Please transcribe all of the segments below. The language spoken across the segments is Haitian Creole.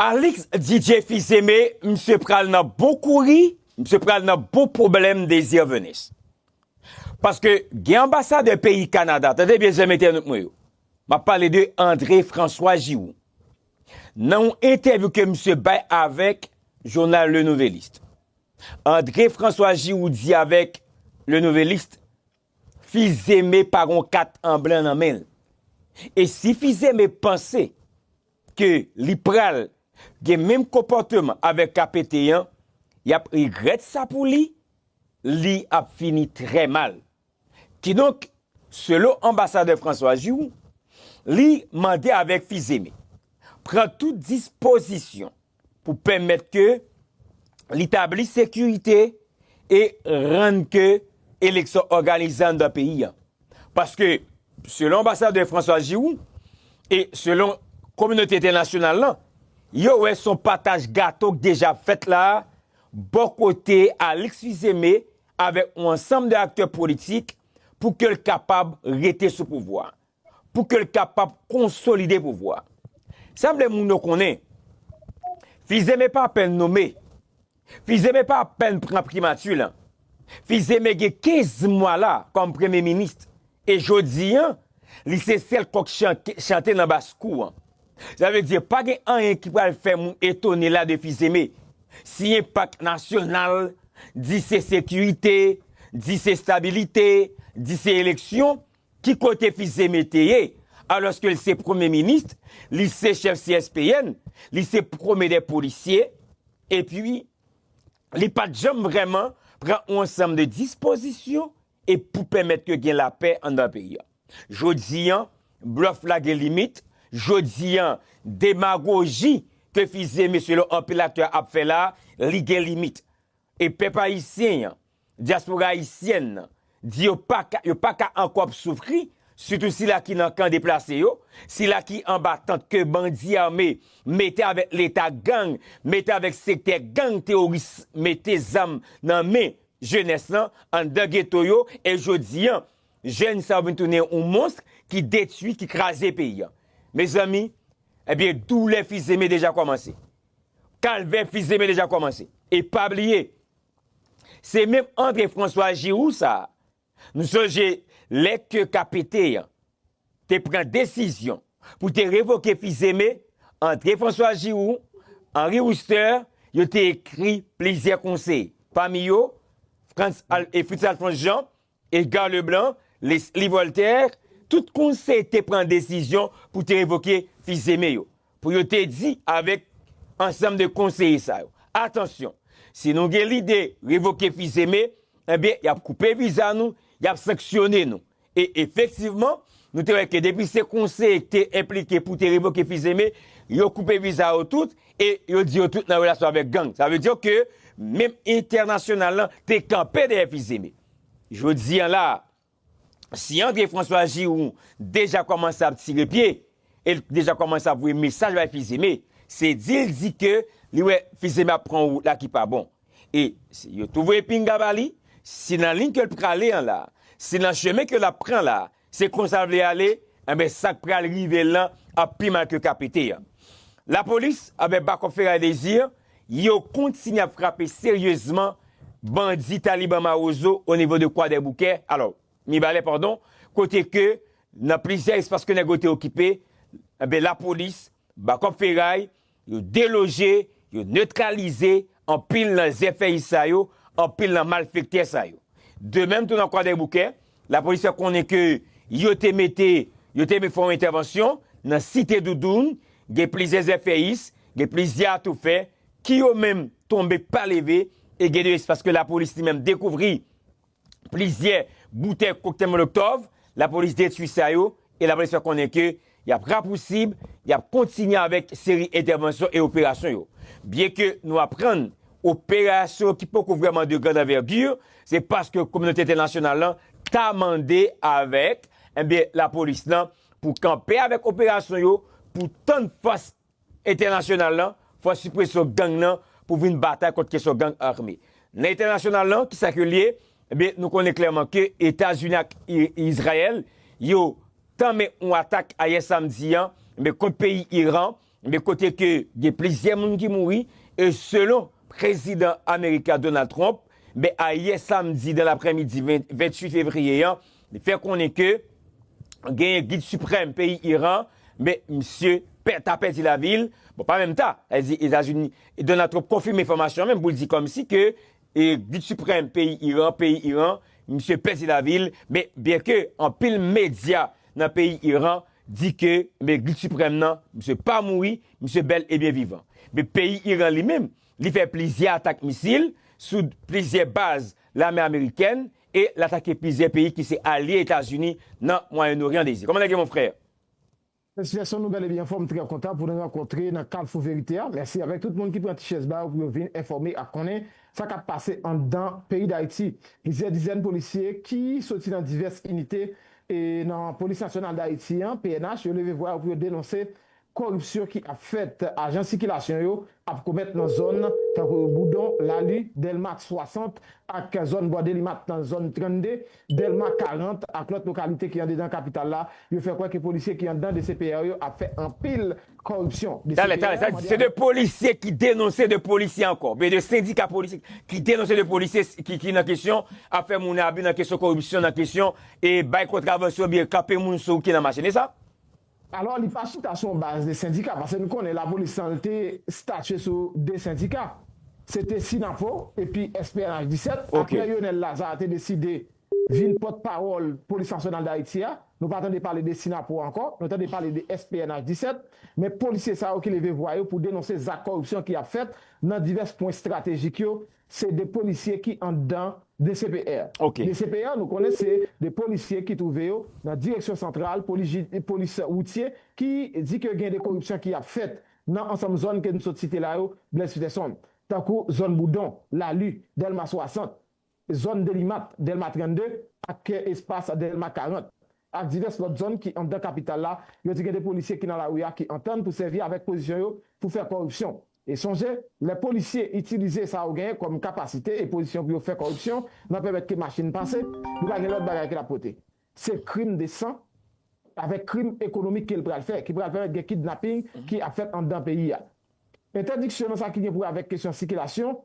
Alix DJ Fils-Aimé misye pral nan bon kouri, misye pral nan bon pwoblèm Désir Venus. Paske gen anbasadè peyi Kanada, tande byen zanmi entènot mwen yo, m ap pale de André François Giroux, nan yon entèvyou ke misye bay avèk jounal Le Nouvelliste, André François Giroux di avèk Le Nouvelliste, Fizeme pa gon kat an blan nan men l. E si Fizeme panse ke li pral gen menm konpòteman avèk KPT an, y ap regrèt sa pou li, li ap fini trè mal. Kidonk, selon anbasadè François Giroux, li mande avèk Fizeme pran tout dispozisyon pou pèmèt ke li tabli sekirite e rann ke eleksyon òganize anndan peyi a. Paske, selon anbasadè François Giroux, e selon kominote entènasyonal lan, yo wè son pataj gato k deja ap fèt la a, bò kote Alix Fils-Aimé avèk yon ansanm de aktè politik, pou ke l kapab rete sou pouvwa a. pou ke l kapab konsolide pouvwa. Sa m vle moun yo konnen, Fizeme pa apèn nome, Fizeme pa apèn pran primati lan, Fizeme gen 15 mwa la kòm premye minis e jodi an li se sèl kòk chante nan bas kou an. Sa vle di pa gen anyen ki pral fè moun etone la de Fizeme. Siyen pak nasyonal, di se sekirite, di se stabilite, di se eleksyon, Ki kote Fils-Aimé te ye alòske l se premye minis, li se chèf CSPN, li se premye dè polisye, epi li pa t janm vrèman pran yon ansanm de dispozisyon e pou pèmèt ke gen lapè anndan peyi a? Jodi an, blòf la gen limit, jodi an, demagoji ke Fils-Aimé selon anpil aktè ap fè la, li gen limit. E pèp ayisyen an, Dyaspora ayisyèn nan di yo paka yo paka ankò ap soufri, sitou sila ki nan kan deplase yo, sila ki anba tant ke bandi ame mete avèk leta gang mete avèk sektè gang teworis mete zam nan men jenès lan anndan geto yo e jodi an jèn sa yo vin tounen yon monstr ki detui, ki kraze peyi an. Mezanmi, ebyen doulè fizeme deja kòmanse. Kalvè fizeme deja kòmanse. E pa bliye, Se menm antre François Giroud sa, nou sonje lè ke ka pete an te pran desizyon pou te revoke Fils-Aimé, antre François Giroud, Henri Wooster, yo te ekri plizyè konseye, pami yo Fritz Alphonse Jean, Edgar Leblanc, Leslie Voltaire, tout konse te pran desizyon pou te revoke Fils-Aimé yo, pou yo te di avèk ansanm de konseye sa yo, atansyon, si nou gen lide revoke Fils-Aimé, enben y ap koupe viza nou, y ap sanksyone nou. E efektivman, nou te wè ke depi se konseye ki te enplike pou te revoke Fils-Aimé, yo koupe viza yo tout e yo di yo tout nan relasyon avèk gang. Sa vle di ke menm entènasyonal lan te kanpe dèyè Fils-Aimé. Jodi an la, si André François Giroud deja kòmanse ap tire pye, e l deja kòmanse ap voye mesaj bay Fils-Aimé, se di l di ke li wè Fils-Aimé ap pran wout la ki pa bon. E yo tou voye pinga ba li, se nan liy ke l prale an la, se nan chemen ke l ap pran la, Se konsa l vle ale, enben sa k pral rive l lan ap pi mal ke ka pete an. Lapolis avèk bakòp Feray Désir, yo kontinye ap frape seryezman bandi Taliban Mawozo o nivo de Kwadèboukè, alò, Mibalè padon, kote ke nan plizyè espas ke nèg yo te okipe, enben Lapolis, bakòp Feray, Yo deloje, yo netralize anpil nan zèfèyis sa yo, anpil nan malfektè sa yo. De menm tou nan Kwadèboukè, lapolis fè konnen ke yo te mete, yo te fè yon entèvansyon nan Site Doudoun, gen plizyè zèfèyis, gen plizyè atoufè ki yo menm tonbe pa leve e gen de espas ke lapolis li menm dekouvri plizyè boutèy koktèl molotov, lapolis detwi sa yo e lapolis fè konnen ke y ap rapousib, y ap kontinye avèk seri entèvansyon e operasyon yo. Byen ke nou aprann operasyon ki poko vrèman de grand envergure, se paske kominote entènasyonal lan ta mande avèk, enben lapolis lan pou kanpe avèk operasyon yo, pou tann fòs Entènasyonal lan, fwa sipreso gang lan pou vin batay kont kesyon gang arme. Nan entènasyonal lan, ki sa ke l ye? Ebyen, nou konnen klèman ke Etazini ak Izrayèl, yo tanmen yon atak ayè samdi an, ebyen, kont peyi Iran, ebyen, kote ke gen plizyè moun ki mouri, e selon prezidan ameriken an, Donald Trump, ebyen, ayè samdi dan laprèmidi 28 fevriye an, Li fè konnen ke genyen gid siprèm peyi Iran, me misye pè ta pèdi lavi l, bon pa menm ta, sa vle di Etazini, Donald Trump konfime enfòmasyon an menm pou l di kòmsi ke gid siprèm peyi Iran, peyi Iran, misye pèdi lavi l, me byen ke anpil medya nan peyi Iran di ke me gid siprèm nan misye pa mouri, misye bèl e byen vivan. Me peyi Iran li menm, li fè plizyè atak misil sou plizyè baz lame amerikèn e l atake plizyè peyi ki se alye Etazini nan Mwayen Oryan Dezi, kòman nèg yo mon frè? Mèsi Gaston nou gade byen anfòm m trè kontan pou nou rankontre nan Kalfou Verite a mèsi avèk tout moun ki pran ti chèz ba yo pou yo vin enfòme ak konnen sa kap pase anndan peyi Dayiti plizyè dizèn polisye ki soti nan divès inite nan Polis Nasyonal Dayiti an pnh yo leve vwa yo pou yo denonse Koripsyon ki ap fèt ajan sikilasyon yo ap komèt nan zòn tankou Boudon, Lali, Dèlma ak 60 ak zòn bò Delimat nan zòn 32, Dèlma 40 ak lòt lokalite ki andedan kapital la, yo fè kwè ke polisye ki anndan dcpr yo ap fè anpil koripsyon. Talè, talè, sa vle di se 2 polisye ki denonse 2 polisye ankò, byen 2 sendika polisye ki denonse 2 polisye ki nan kesyon ap fè moun abi nan kesyon koripsyon, nan kesyon e bay kontravansyon byen kanpe moun sou ki nan machin, e sa? Alò li pa chita sou yon baz de sendika pase nou konnen lapolis tan l te statye sou 2 sendika se te Synapo epi SPNH 17 Ok. aprè Yonel Lazarre te deside vin pòt pawòl polis nasyonal Dayiti a nou pa tande pale de Synapo ankò nou tande pale de SPNH 17 men polisye sa yo ki leve vwa yo pou denonse zak kòripsyon ki ap fèt nan divès pwen estratejik yo Se 2 polisye ki anndan dcpr. Dcpr nou konnen se 2 polisye ki twouve yo nan direksyon santral polis woutye ki di ke gen 2 koripsyon ki ap fèt nan ansanm zòn ke nou sot site la yo Blaise Peterson. Tankou zòn Boudon, Lalu, Dèlma 60, zòn Delimat, Dèlma 32 ak espas Dèlma 40 ak divès lòt zòn ki anndan kapital la yo di gen 2 polisye ki nan lari a ki antann pou sèvi avèk pozisyon yo pou fè koripsyon. E sonje, lè polisye itilize sa yo genyen kòm kapasite e pozisyon pou yo fè kòripsyon nan pèmèt ke machin pase, li pa gen lòt bagay ke l ap pote. Se krim de san avèk krim ekonomik ke l pral fè, ki pral pèmèt gen kidnaping ki ap fèt anndan peyi a. Entèdiksyon nan sa ki gen pou wè avèk kesyon sikilasyon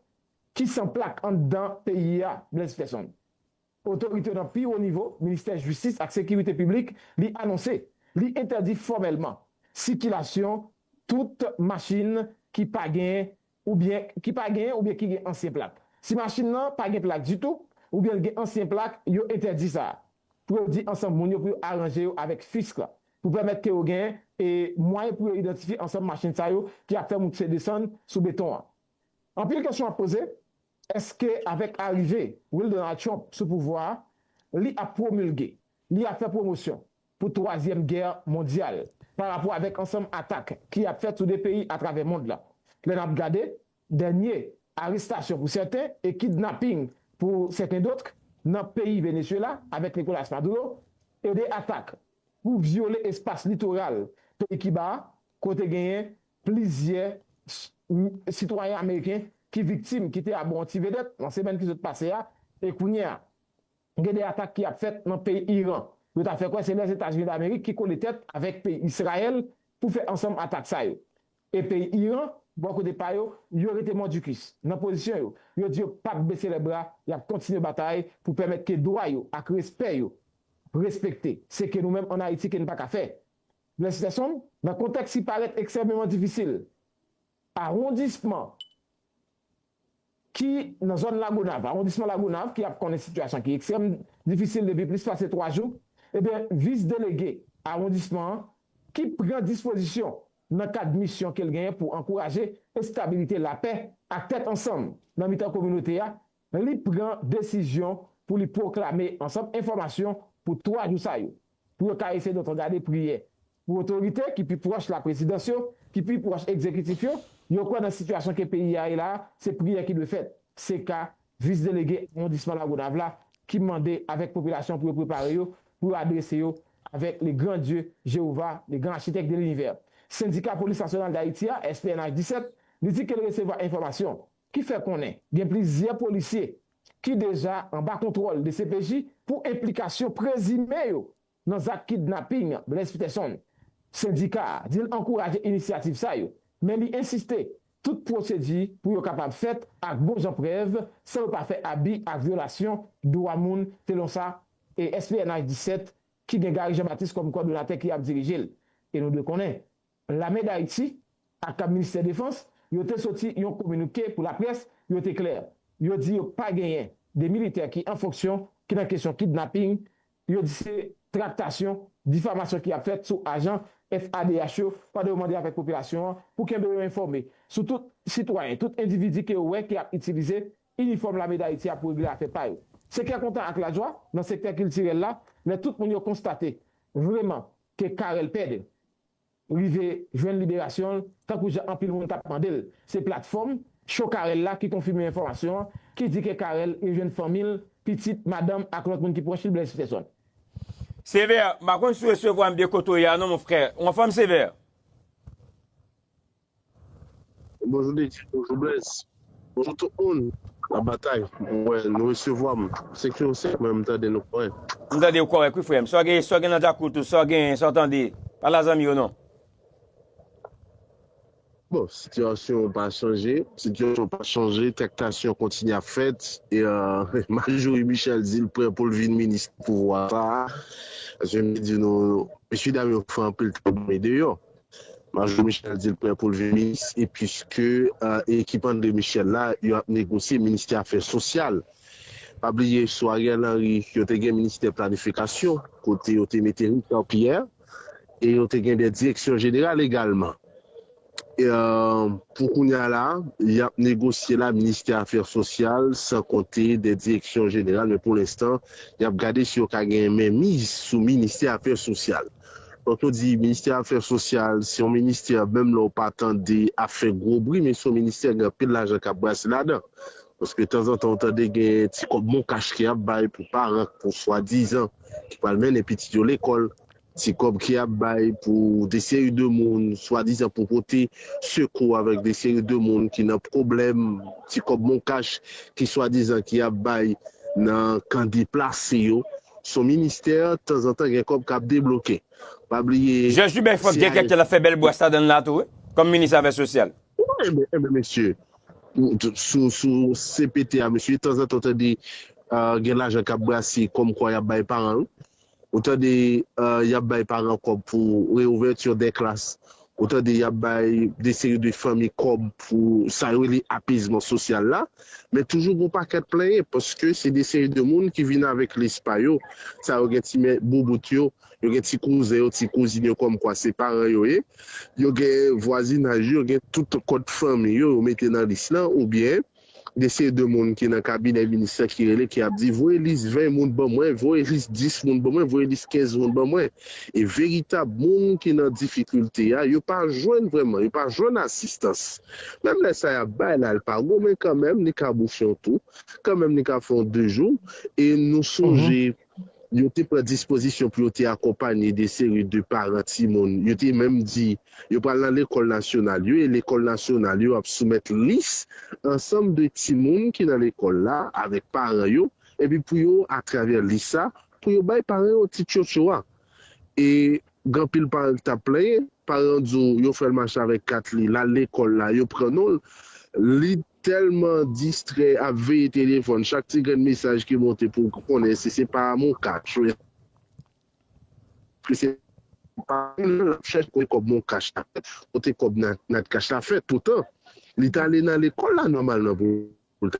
ki san plak anndan peyi a, Blaise Peson. Otorite nan pi wo nivo Ministè Jistis ak Sekirite Piblik li anonse li entèdi fòmèlman sikilasyon tout machin ki pa gen oubyen ki pa gen oubyen ki gen ansyen plak. Si machin nan pa gen plak ditou oubyen l gen ansyen plak yo entèdi sa. Pou yo di ansanm moun yo pou yo aranje yo avèk Fisk la pou pèmèt ke yo gen e mwayen pou yo idantifye ansanm machin sa yo ki ap fè moun pse desann sou beton an. Anpil kesyon ap poze. Eske avèk arive Will Donald Trump sou pouvwa a, li ap pwomilge, li ap fè pwomosyon pou twazyèm gè mondyal pa rapò avèk ansanm atak ki ap fèt sou 2 peyi atravè mond lan? Lè nap gade dènye arestasyon pou sèten e kidnaping pou sèten dotk nan peyi Venezuela avèk Nicolas Maduro e 2 atak pou vyole espas litoral peyi Kiba a kote genyen Plizyè sitwayen ameriken ki viktim ki te abò yon ti vedèt nan semèn ki sot pase a e kounye a gen 2 atak ki ap fèt nan peyi Iran. Yo ta fè kwè se Lèzetazini Damerik ki kole tèt avèk peyi Izrayèl pou fè ansanm atak sa yo. E peyi Iran, bò kote pa yo, yo rete mòdikis nan pozisyon yo. Yo di yo pap bese lè bra, y ap kontinye batay pou pèmèt ke dwa yo ak respè yo respekte. Se ke nou menm an Ayiti ke n pa ka fè, Bless Gerson, nan kontèks ki parèt ekstrèmeman difisil, awondisman ki nan zòn Lagonav, awondisman Lagonav ki ap konnen sitiyasyon ki ekstrèm difisil depi plis pase 3 jou, ebyen vis delege awondisman an ki pran dispozisyon nan kad misyon ke l genyen pou ankouraje estabilite, lapè ak tèt ansanm nan mitan kominote a li pran desizyon pou li pwoklame ansanm enfòmasyon pou 3 jou sa yo, pou yo ka eseye dòtogade priyè. Pou otorite ki pi pwòch laprezidans yo, ki pi pwòch egzekitif yo, yo kwè nan sitiyasyon ke peyi a ye la a, se priyè ki dwe fèt. Se ka Vis Delege Awondisman Lagonav la ki mande avèk popilasyon pou yo prepare yo, pou yo adrese yo avèk Le Grand Dieu, Jewova, Le Grand Architecte de l'Univers. Sendika Polis Nasyonal Dayiti a, SPNH 17, li di ke l resevwa enfòmasyon, ki fè konnen gen plizyè polisye ki deja anba kontwòl dcpj pou enplikasyon prezime yo nan zak kidnaping Blaise Peterson. Sendika a di l ankouraje inisyativ sa yo, men li ensiste tout pwosedi pou yo kapab fèt ak bon jan prèv san yo pa fè abi ak vyolasyon dwa moun selon sa SPNH 17 ki gen Gary Jean Baptiste kòm kòdonatè ki ap dirije l e nou dwe konnen Lame Dayiti ak Ministè Defans yo te soti yon kominike pou laprès, yo te klè, yo di yo pa genyen de militè ki an fonksyon ki nan kesyon kidnaping, yo di se traktasyon, difamasyon ki ap fèt sou ajan FADH yo pandan yo mande avèk popilasyon an pou kenbe yo enfòme sou tout sitwayen, tout endividi ke yo wè ki ap itilize inifòm Lame Dayiti a pou regle afè pa yo. Se kè kontan ak lajwa nan sektè kiltirèl la lè tout moun yo konstate vreman ke Carel Pedre, rive jwenn liberasyon l tankou jan anpil moun tap mande l. Se platfòm Show Carel la ki konfime enfòmasyon an ki di ke Carel rejwenn fanmi l, pitit, madanm ak lòt moun ki pwòch li Blaise Peterson. Sévère, m pa konn si w resevwa m byen kote w ye a non mon frère. Ou anfòm Sévère? Bonjou Dedye, bonjou Blaise, bonjou tout moun nan batay m wè nou resevwa m se ke w se mwen m tande nou kòrèk. M tande w kòrèk wi frè m. Sa w gen sa w gen nan djakout ou sa w gen sa w tande pa la zanmi yo non. Bon sitiyasyon an pa chanje. Sitiyasyon an pa chanje traktasyon kontinye ap fèt e Majorie Michel di l prè pou l vin minis nan pouvwa sa a. Paske m te di nou mesye dam yo fè anpil travay deyò. Majò Michel di l prè pou l vin minis e puiske ekip André Michel la yo ap negosye ministè afè sosyal. Pa bliye sou Ariel Henry yo te gen ministè planifikasyon kote yo te mete Richard Pierre e yo te gen 2 direksyon jeneral egalman. Pou kounya la y ap negosye la ministè afè sosyal san konte 2 direksyon jeneral men pou lenstan y ap gade si yo ka gen menmiz sou ministè afè sosyal. Lè w di ministè afè sosyal, se yon ministè menm lè w pa tande ap fè gwo bri men se yon ministè gen anpil lajan k ap brase ladan. Paske tanzantan ou tande gen ti kòb mon kach ki ap bay pou paran pou swadizan ki pral mennen pitit yo lekòl, ti kòb ki ap bay pou de seri de moun swadizan pou pote sekou avèk de seri de moun ki nan pwoblèm, ti kòb mon kach ki swadizan ki ap bay nan kan deplase yo. Son ministè tanzantan gen kòb kap debloke pa bliye Jè Jubè fòk Jè kèkè la fè bèl bwas ladanl la tou wi kòm minis afè sosyal. Ebyen ebyen mesye sou sou CPT a mesye tanzantan ou tande gen lajan kap brase kòm kwa yap bay paran wi ou tande yap bay paran kòb pou reouvèti dè klas Ou tande y ap bay de seri de fanmi kòb pou sa yo rele apezman sosyal la, men toujou gen yon pakèt plenyen paske se de seri de moun ki vin avèk lis pa yo, sa yo gen ti mè boubout yo, yo gen ti kouzen yo, ti kouzin yo kòmkwa se paran yo ye, yo gen vwazinaj yo, yo gen tout kòd fanmi yo, yo mete nan lis lan oubyen. Gen seri de moun ki nan kabinè minis lan ki rele, ki ap di, voye lis 20 moun ban mwen, voye lis 10 moun ban mwen, voye lis 15 moun ban mwen. E veritab moun ki nan difikilte a, yo pa jwenn vrèman, yo pa jwenn asistans. Menm lè sa y ap bay la, l pa gwo men kanmenm li ka bouche yon tou, kanmenm li ka fè yon de jou. E nou sonje. Yo te pran dispozisyon pou yo te akonpanye de seri de paran timoun. Yo te menm di, yo pral nan lekòl nasyonal yo e lekòl nasyonal yo ap soumèt lis ansanm de timoun ki nan lekòl la avèk paran yo, epi pou yo, atravè lis sa, pou yo bay paran yo ti tchotcho a. E gen anpil paran ki t ap plenyen. Paran an di w yo fè l mache avèk kat li, l al lekòl la, yo pran non l, li. Telman distrè ap veye telefòn chak ti grenn mesaj ki monte pou konnen si se pa amou cash ou eske se pa moun nan lap chèche kote kòb mon cash la fèt kote kòb natcash la fèt poutan li tale nan lekòl la nòmalman poul ta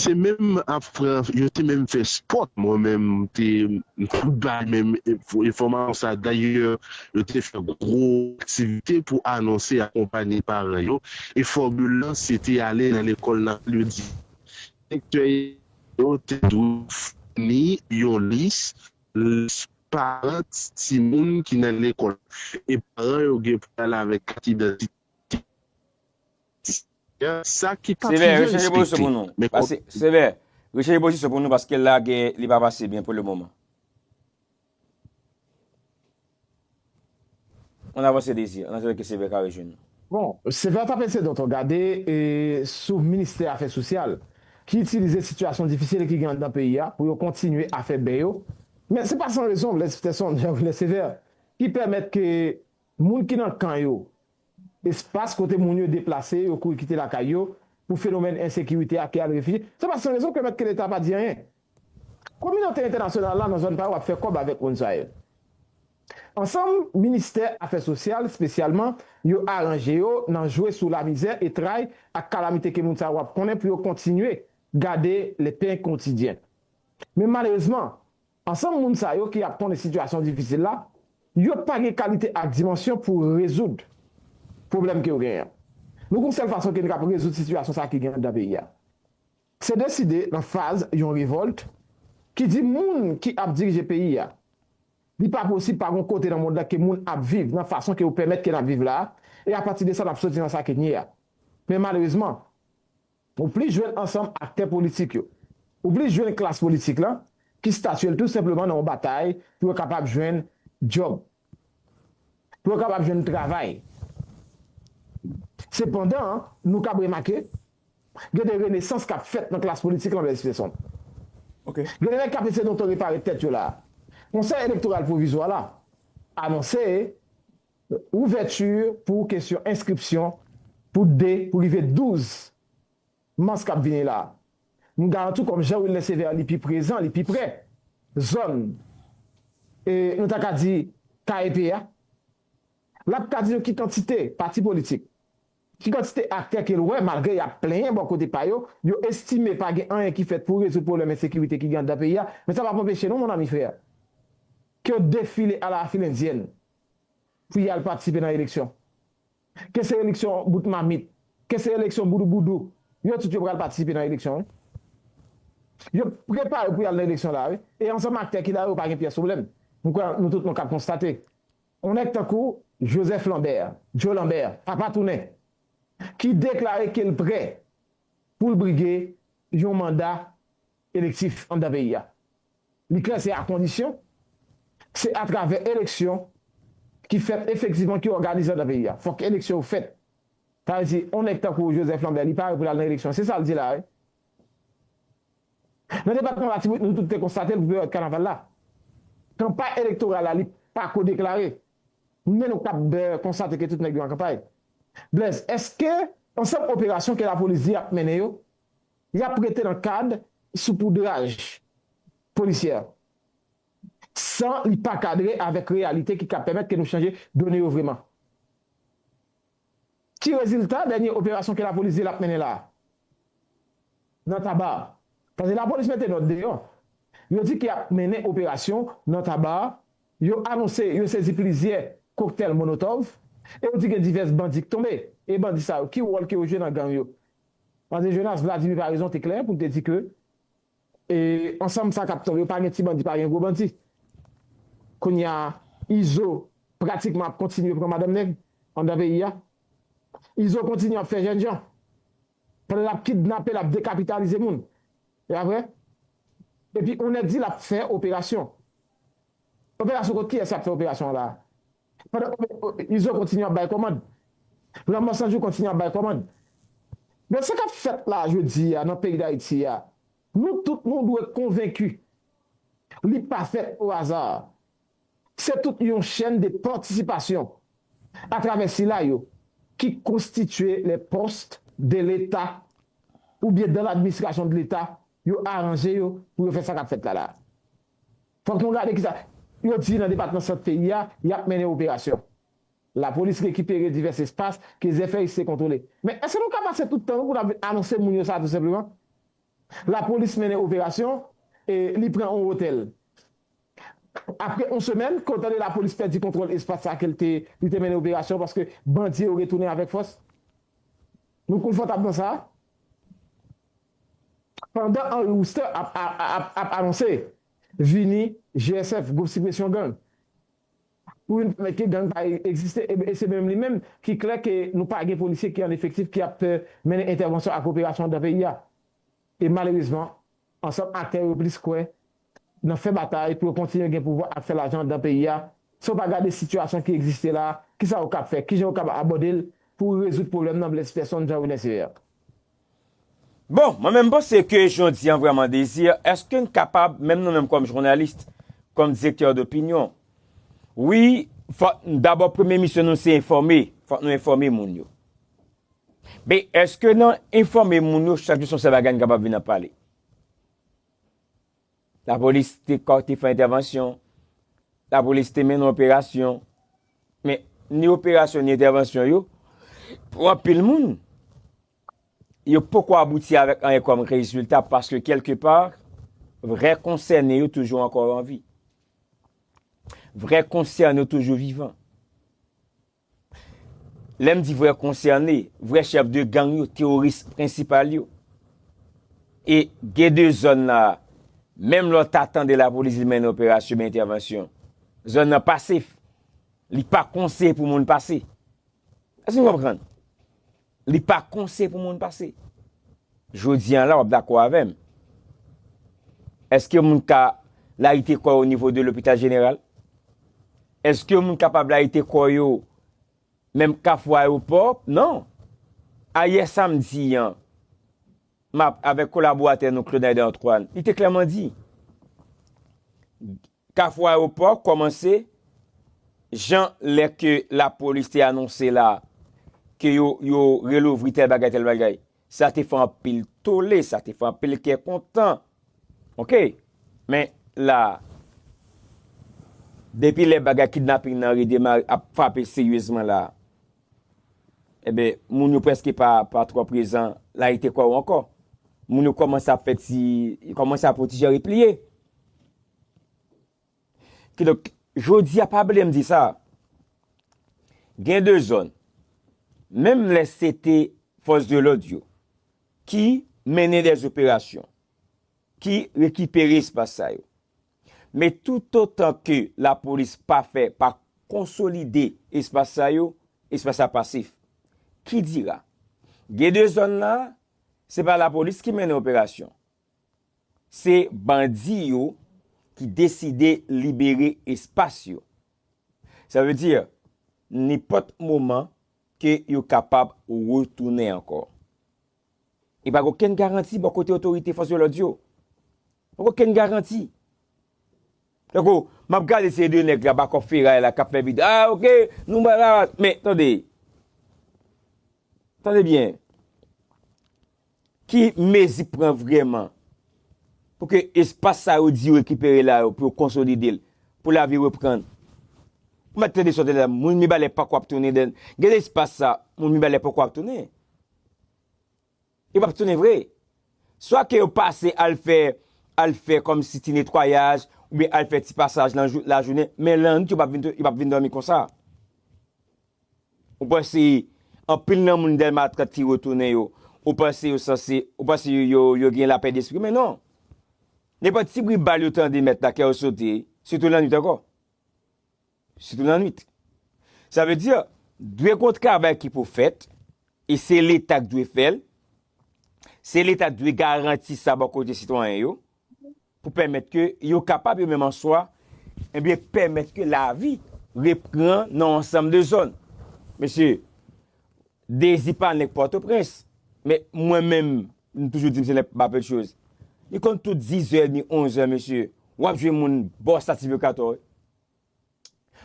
Se menm ap fran yo te menm fè sport mwen menm te tout bay menm enfòmasyon sa dayè yo te fè gwo aktivite pou anonse akonpanye paran yo e fòmil lan se te ale nan lekòl nan al yo di direktè yo te dwe founi yon lis lis paran timoun ki nan lekòl e paran yo gen pou al avèk kat idantite Sa ki pa toujou respekte. Sevè, rechanje pozisyon pou nou paske la gè li pa pase byen pou le moman. Ann avanse Dezi, ann asire ke Sevè ka rejwenn nou. Bon, Sevè tape se dòt ou gade sou Ministè Afè Sosyal ki itilize sitiyasyon difisil ki gen anndan peyi a pou yo kontinye afè bè yo. Men se pa san rezon Blèz Pitèsonn, Jan Wilè Sevè, ki pèmèt ke Moun ki nan kan yo, espas kote moun yo deplase, yo kouri kite lakay yo pou fenomèn ensekirite a ki al refije, se pa san rezon ke mèt ke leta pa di anyen. Kominote entènasyonal la nan zòn pa yo ap fè kòb avèk moun sa yo. Ansanm, ministè afè sosyal spesyalman, yo aranje yo nan jwe sou lamizè e tray ak kalamite ke moun sa yo ap konnen pou yo kontinye gade le pain quotidien. Men malerezman, Ansanm moun sa yo ki ap konnen sitiyasyon difisil la, yo pa gen kalite ak dimansyon pou rezoud pwoblèm ke yo genyen an. Nou gen yon sèl fason ke nou kab rezoud sitiyasyon sa ki gen anndan peyi a. Se deside nan faz yon revòlt ki di moun ki ap dirije peyi a, li pa posib pa gon kote nan mond la ke moun ap viv nan fason ke yo pèmèt ke n ap viv la a, e apati de sa n ap soti nan sa ke n ye a. Men malerezman. Ou plis jwenn ansanm aktè politik yo. Ou plis jwenn klas politik lan ki statye l tou senpleman nan yon batay pou yo kapab jwenn djòb, pou yo kapab jwenn travay. Sepandan, nou kab remake, gen de renesans k ap fèt nan klas politik lan, Blaise Peson. Gen de nèg k ap eseye donton repare tèt yo la a. Konsèy elektoral pwovizwa la anonse. Ouvèti pou kesyon enskripsyon pou 2 pou rive 12 Mas k ap vini la. M garanti w kòm Jean Wilner Sévère li pi prezan, li pi prè zòn e nou ta ka di KEP a, l ap ka di nou ki kantite pati politik, ki kantite aktè ke l wè malgre y ap plenyen bò kote pa yo, yo estime pa gen anyen ki fèt pou rezoud pwoblèm ensekirite ki gen anndan peyi a, men sa p ap anpeche non mon ami frère ke yo defile a la filendyèn. pou y al patisipe nan eleksyon. Ke se eleksyon bout mamit, ke se eleksyon boudouboudou, yo tout yo pral patisipe nan eleksyon wi. Yo prepare pou y al nan eleksyon la a wi. E ansanm aktè ki la yo pa gen pyès pwoblèm. M kwè nou tout nou kab konstate. On nèg tankou Joseph Lambert, Joe Lambert, papa tounen, ki deklare ke l prè pou l brige yon manda elektif anndan peyi a. Li klè se akondisyon se atravè eleksyon ki fèt efektivman ki òganize anndan peyi a. Fòk eleksyon yo fèt. Sa vle di yon nèg tankou Joseph Lambert li pare pou l al nan eleksyon. Se sa l di la wi. Nan depatman Latibonit nou tout te konstate l pou peryòd kanaval la. Kanpay elektoral la li pa ko deklare men nou kab konstate ke tout nèg yo an kanpay. Blaise, èske ansanm operasyon ke lapolis di y ap mennen yo y ap rete nan kad soupoudraj polisyè an, san li pa kadre avèk reyalite ki ka pèmèt ke nou chanje done yo vreman. Ki rezilta dènye operasyon ke lapolis di l ap mennen la a? Nan Taba. Paske lapolis mete nòt deyò, yo di ke y ap mennen operasyon nan Taba, yo anonse yo sezi plizyè koktèl monotòv, e yo di gen divès bandi k tonbe. E bandi sa yo, ki wòl ke yo jwe nan gang yo? Pase Jonas Vladimir pa rezon te klè pou l te di ke e ansanm sa kap tonbe yo pa gen ti bandi pa gen gwo bandi kounya izo pratikman ap kontinye pran madanm nèg andan peyi a izo kontinye ap fè jènjan pandan lap kidnape lap dekapitalize moun e aprè epi on nèg di lap fè operasyon operasyon kont kiyès yap fè operasyon an la a. Pandan Izo kontinye ap bay kòmand. Lanmò sanjou kontinye ap bay kòmand. Donk sa k ap fèt la jodi a nan peyi Dayiti a, nou tout nou dwe konvenki li pa fèt o aza. Se tout yon chèn de patisipasyon atravè sila yo ki konstitye les postes de l'Etat oubyen dans l'administration de l'Etat yo aranje yo pou yo fè sa k ap fèt la la. Fòk nou gade kisa yo di nan depatman Sant peyi a, y ap mennen operasyon. Lapolis rekipere divès espas ke Zèfèyis te kontwole. Men, èske nou ka pase tout tan nou pou n ap vin anonse moun yo sa tou senpleman? Lapolis mennen operasyon e li pran yon otèl. Apre yon semèn, ke w tande lapolis pèdi kontwòl espas sa ke li te mennen operasyon paske bandi yo retounen avèk fòs. Nou konfòtab nan sa? Pandan Henry Wooster ap anonse vini GSF, Gwoup Sipresyon Gang, pou vin pèmèt ke gang pa egziste, e se menm li menm ki klè ke nou pa gen polisye ki an efektif ki ap fè mennen entèvansyon ak operasyon dan peyi a. E malerezman, ansanm aktè yo plis kwè nan fè batay pou yo kontinye gen pouvwa ap fè lajan andan peyi a, si yo pa gade sitiyasyon ki egziste la, kisa yo kab fè, kijan yo kab abòde l pou rezoud pwoblèm nan blès pèsonn Jean Rene Ceyer. Bon, mwen menm m panse ke jodi an vrèman Désir, eske n kapab, menm nou menm kòm journalist, kòm direktè dopinyon, wi, fòk n dabò premye misyon nou se enfòme, fòk nou enfòme moun yo. Men, eske nan enfòme moun yo chak jou se yon sèl bagay n kapab vin ap pale? Lapolis te fè entèvansyon, lapolis te mennen operasyon, men ni operasyon ni entèvansyon yo, pou anpil moun, yo poko abouti avèk anyen kòm rezilta, paske kelke pa, vrè konsène yo toujou ankò anvi. Vrè konsène yo toujou vivan. Lè m di vrè konsène, vrè chèf de gang yo, teworis prensipal yo. E gen de zòn la a, menm lè w ta tande lapolis li mennen operasyon oubyen entèvansyon, zòn nan pa sef. Li pa konseye pou moun pase. Èske nou konprann? Li pa konse pou moun pase. Jodi an la wap dakò avèm. Eske moun ka layite kò yo onivo de lopital jeneral? Eske moun kapab layite kò yo menm kafou ayewopò? Non. Ayè samdi an, map avèk kolaboratè nou Claude Aider Antoine, li te klèman di. Kafou Ayewopò kòmanse jan lè ke lapolis te anonse la ke yo yo relouvri tèl bagay tèl bagay. Sa te fè anpil tole, sa te fè anpil kè kontan. Ok. Men la a, depi lè bagay kidnaping nan redemare, ap frape seryezman la a, enben moun yo prèske pa pa twò prezan layite kò yo ankò. Moun yo kòmanse ap fè ti, yo kòmanse ap yon ti jan repliye. Kidonk, jodi a pa bliye m di sa, gen de zòn, menm lè se te fòs de lòd yo ki mennen dè zoperasyon, ki rekipere espas sa yo. Men toutotan ke lapolis pa fè, pa konsolide espas sa yo, espas sa pasif. Kidira, gen de zòn la, se pa lapolis ki mennen operasyon, Se bandi yo ki deside libere espas yo. Sa vle di, nenpòt moman ke yo kapab retounen ankò. E pa gen okenn garanti bò kote otorite fòs de lòd yo. Pa gen okenn garanti. Tankou, m ap gade se de nèg la ba kòb feray la k ap fè video, ah ok, nou ba la. Men, tande. Tande byen. Ki mezi pran vrèman pou ke espas sa yo di yo rekipere la yo pou yo konsolide l, pou lavi reprann? Ou mèt tande sa w te tande la, moun Mibalè pako ap tounen dèn, gen de espas sa moun Mibalè poko ap tounen. Yo pap tounen vre. Swa ke yo pase al fè, al fè kòm si ti netwayaj, oubyen al fè ti pasaj nan jou, lajounen, men lannwit yo pap vin, yo pap vin dòmi konsa. Ou panse anpil nan moun Dèlma 30 ki retounen yo, ou panse yo sanse, ou panse yo gen lapè despri? Men non! Nenpòt ti bri bal yo tande mèt la kè yo sote, sitou lannwit ankò. Sitou lannwit. Sa vle di, dwe gon travay ki pou fèt, e se leta ki dwe fè l, se leta ki dwe garanti sa bò kote sitwayen yo, pou pèmèt ke yo kapab yo menm an swa, ebyen pèmèt ke lavi repran nan ansanm de zòn. Mesye, Dezi pa nèg Pòtoprens, men mwen menm, m toujou di m se nèg Bapedchoz. Li konn tout dizè edmi, onzè mesye, w ap jwenn moun bò Sativeokatò wi.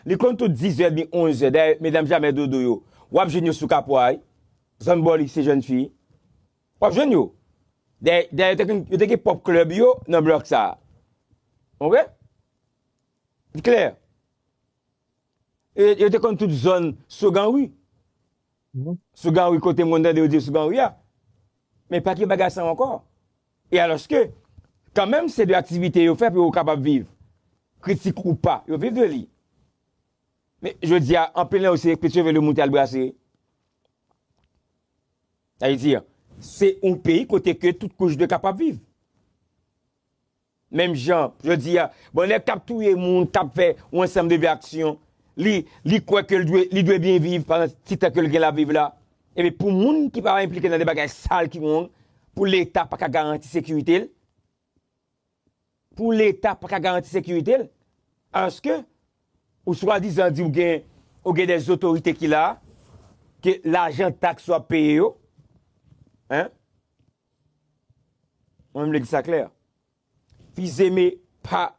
Li konn tout dizè edmi, onzè, dayè medam Jamè Dodo yo, w ap jwenn yo sou Kapwa wi, zòn bò Lise Jèn Fi. Wap jwenn yo. Dayè yo te konn yo te gen pwòp club yo nan block sa. Ok? Li klè. Yo te konn tout zòn Sogan Rue. Sogan Rue kote moun tande yo di Sogan Rue a. Men pa gen bagay sa ankò. E alòske kan menm se de aktivite yo fè pou yo kapab viv. Kritik ou pa, yo viv de li. Men jodi a anpil nan yo se pèt cheve le moun te al brase. Sa vle di, se yon peyi kote ke tout kouch dwe kapab viv. Menm jan, jodi a, bon nèg kap touye moun, kap fè yon ansanm de vye aksyon, li kwè ke li dwe byen viv pandan ti tan ke li gen la viv la. Epi pou moun ki pa enplike nan de bagay sal ki wrong, pou leta pa ka garanti sekirite l, pou leta paka garanti sekirite l aske ou swadizan di ou gen ou gen des otorite ki la ke lajan taks wap peye yo hein mwen m vle di sa klè fizeme pa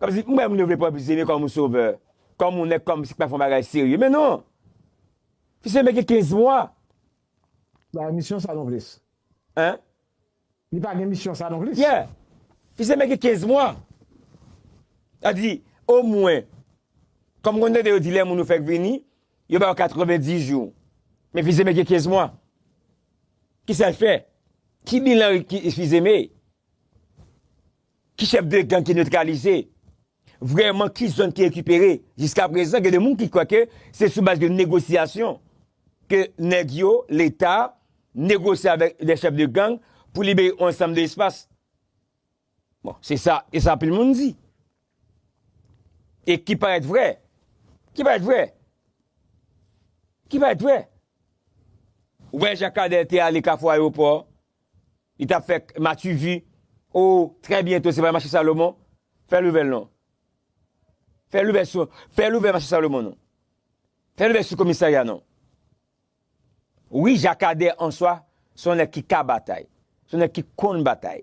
kòmsi m wè moun yo vle pran fizeme kòm yon sovè kòm yon nèg kòmsi ki pa fè yon bagay serye men non fizeme gen 15 mwa. Ba emisyon sa non plis. Hein. Li pa gen misyon sa non plis. Yeah! Fi se mèt gen 15 mwa. Sa di, o mwen, kòm m konn tande yo di lè moun yo fèk vini, yo ba yo 90 jou. Men Fi se mèt gen 15 mwa. Ki sa l fè? Ki bilan Fi se mèt, ki chèf de gang ki netralize? Vrèman ki zòn ki rekipere? Jiska prezan gen de moun ki kwè ke se sou baz de negosyasyon ke nèg yo, leta, negosye avèk de chèf de gang pou libere yon ansanm de espas. Bon, se sa, se sa anpil moun di. E ki parèt vrè. Ki parèt vrè. Ki parèt vrè. Ou wè jan Kader te ale Kafou Ayewopò, Li tap fè matuvi oh très bientôt se pa mache salomon fè louvè l non fè louvè sou fè louvè mache salomon non fè louvè sou komisarya non wi jakadè answa son nèg ki ka batay son nèg ki konn batay.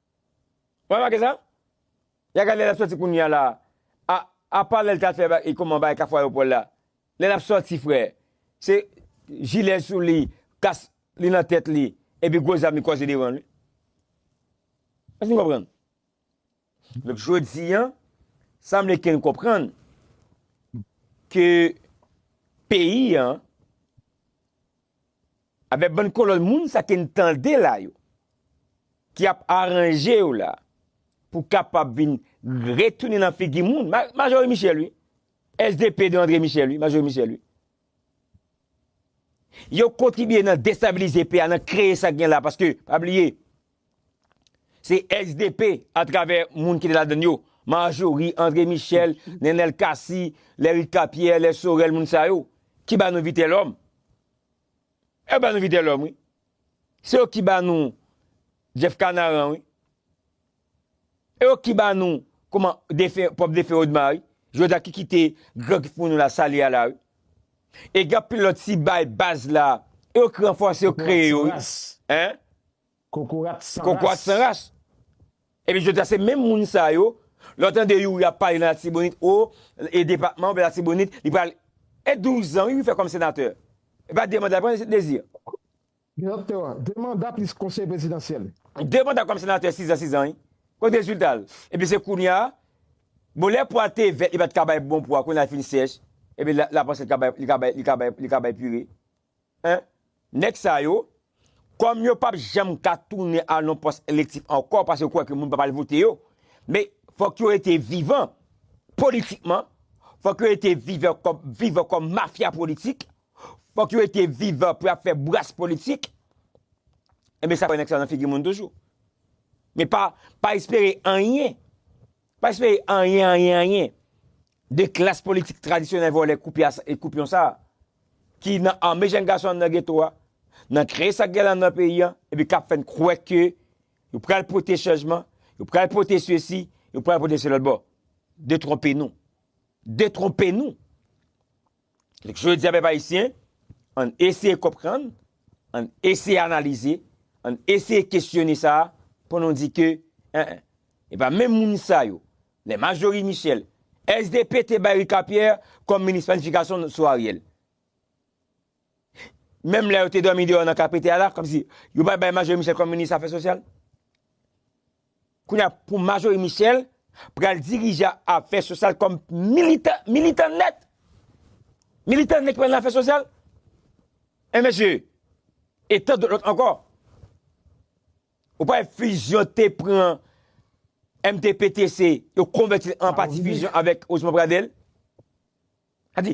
Ou remake sa? Ya gad lè lap sòti kounya la a apa lèl ta fè e kòman bagay kafou ayopò la lè lap sòti frè se jilè sou li kas li nan tèt li epi gwo zam li kòze devan li èske nou konprann? Donk jodi an sanble ke nou konprann ke peyi an. Avè bann kolonn moun sa ke n tande la yo, ki ap aranje yo la pou kapab vin retounen nan figi moun, Majorie Michel wi, SDP de André Michel wi, Majorie Michel wi. Yo kontribye nan destabilize peyi a, nan kreye sa gen la, paske pa bliye, se SDP atravè moun ki te ladan yo, Majorie, André Michel, Nenel Cassy, Lerica Pierre, Lè Sorel, moun sa yo, ki ba nou Vitelhomme. Yo ba nou Vitelhomme wi. Se yo ki ba nou Jeff Canaran wi. E yo ki ba nou kouman defen, pwòp defen Odma wi. Jodi a ki kite gran kif moun nou la sali a la wi. E gen anpil lòt si bay baz la. E yo ki ranfòse yo kreye yo wi. Hein? Kokorat san ras. Kokorat san ras. Epi jodi a se menm moun sa yo, lè w tande Youri ap pale nan Latibonit, o, e depatman oubyen Latibonit, li pral, e 12 zan wi li fè kòm senatè. E pa 2 manda li pran, se Dezi. Direktè, 2 manda plis konseye prezidansyèl. 2 manda kòm senatè, 6 zan, 6 zan wi. Kote rezilta l? Epi se kounya, bon lè pwa te vèt li pa t ka bay bon pwa, kounya li fin sèch, epi la panse li ka bay, li ka bay, li ka bay, li ka bay pire. Hein? Nèg sa yo, kòm yo pap janm ka tounen al nan pòs elektif ankò paske yo kwè ke moun pap al vote yo, men fòk yo rete vivan politikman, fòk yo rete vivan kòm vivan kòm mafya politik, fòk yo rete vivan pou yap fè bras politik, enben sa kwè nèg sa yo nan figi moun toujou. Men pa pa espere anyen Pa espere anyen anyen anyen de klas politik tradisyonèl vòlè koupyon sa a ki nan ame jenn gason anndan geto a, nan kreye sa k gen landan peyi an epi k ap fè n kwè ke yo pral pote chanjman, yo pral pote sesi, yo pral pote selòtbò. Detwonpe nou. Detwonpe nou! Jodi a pèp ayisyen, an n eseye konprann, an n eseye analize, an n eseye kesyone sa a pou nou di ke en en, e pa menm moun sa yo, lè Marjorie Michel, SDP te bay Ricard Pierre kòm minis planifikasyon sou Ariel. Menm lè yo te dòmi deyò nan KPTA la, kòmsi yo pa t bay Marjorie Michel kòm minis afè sosyal? Kounye a pou Marjorie Michel pral dirije afè sosyal kòm militan, militan nèt. Militan nèt ki pral nan afè sosyal. E mesye, e tan dòt lòt ankò. Ou pa wè fusion te pran MTPTC, yo konvèti l an pati fusion avèk Osman Pradel. Sa di,